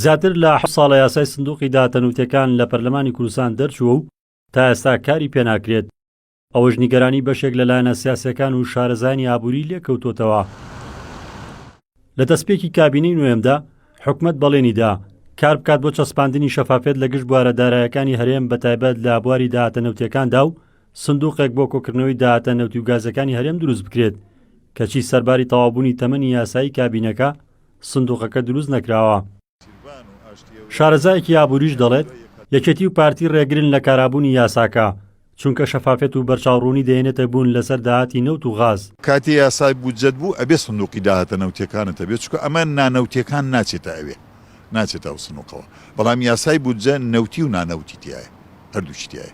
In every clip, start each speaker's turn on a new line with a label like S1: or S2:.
S1: زیاتر لە حەوت ساڵە یاسای سندوقی داتەنوتەکان لە پەرلەمانی کوردستان دەرچووە و تا ئێستا کاری پێناکرێت، ئەوەش نیگەرانی بەشێک لە لایەنە سیاسییەکان و شارەزایانی ئابووری لێکەوتۆتەوە. لە دەستپێکی کابینەی نۆیەمدا، حکومەت بەڵێنی دا، کار بکات بۆ چەسپاندنی شەفافیەت لە گشت بوارە دارایەکانی هەرێم بەتایبەت لە بواری داهاتە نەوتییەکاندا و سندوقێک بۆ کۆکردنەوەی داهاتە نەوتی و گازەکانی هەرێم دروست بکرێت، کەچی سەرباری تەواوبوونی تەمەنی یاسایی کابینەکە، سندوقەکە دروست نەکراوە. شارەزایەکی ئابووریش دەڵێت، یەکێتی و پارتی رێگرن لە کارابوونی یاساکە، چونکە شەفافیەت و بەرچاوڕوونی دەهێنێتە بوون لەسەر داهاتی نەوت و غاز. کاتێ یاسای
S2: بودجەت بوو ئەبێ سندوقی داهاتە نەوتیەکانت هەبێت، چونکە ئەمە نانەوتیەکان ناچێتە ئەوێ، ناچێتە ئەو سندوقەوە، بەڵام یاسای بودجە نەوتی و نانەوتی تیایە، هەردووکی تیایە.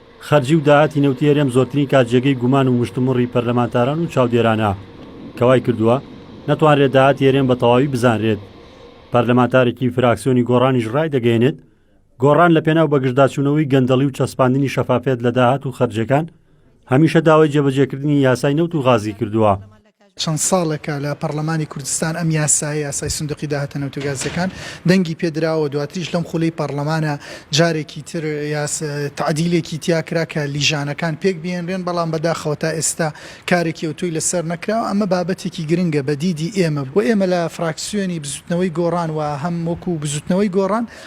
S1: خەرجی و داهاتی نەوتی هەرێم زۆرترین کات جێگەی گومان و مشتومڕی پەرلەمانتاران و چاودێرانە کە وای کردووە نەتوانرێت داهاتی هەرێم بە تەواوی بزانرێت. پەرلەمانتارێکی فراکسیۆنی گۆڕانیش ڕایدەگەیەنێت، گۆڕان لە پێناو بەگژداچوونەوەی گەندەڵی و چەسپاندنی شەفافیەت لە داهات و خەرجیەکان، هەمیشە داوای جێبەجێکردنی یاسای نەوت و غازی کردووە. چەند
S3: ساڵێکە لە پەڕلەمانی کوردستان ئەم یاسایە، یاسای سندوقی داهاتە نەوتوگازییەکان، دەنگی پێ دراوە، دواتریش لەم خولەی پەڕلەمانە جارێکی تر تەعدیلێکی تیا کرا کە لیژانەکان پێک بهێنرێن، بەڵام بەداخەوە تا ئێستا کارێکی ئەوتۆی لەسەر نەکراوە، ئەمە بابەتێکی گرنگە بە دیدی ئێمە بۆ ئێمە لە فراکسیۆنی بزوتنەوەی گۆڕان و هەم وەکو بزوتنەوەی گۆڕان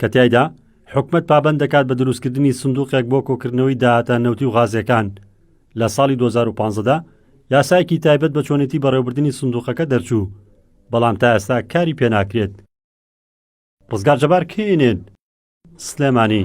S1: کە تیایدا حکومەت پابەند دەکات بە دروستکردنی سندوقێک بۆ کۆکردنەوەی داهاتە نەوتی و غازیەکان، لە ساڵی دوو هەزار و پازدە دا یاسایەکی تایبەت بە چۆنێتی بەڕێوەبردنی سندوقەکە دەرچوو، بەڵام تا ئێستا کاری پێناکرێت. ڕزگار جەبار، کەی ئێن ئێن، سلێمانی.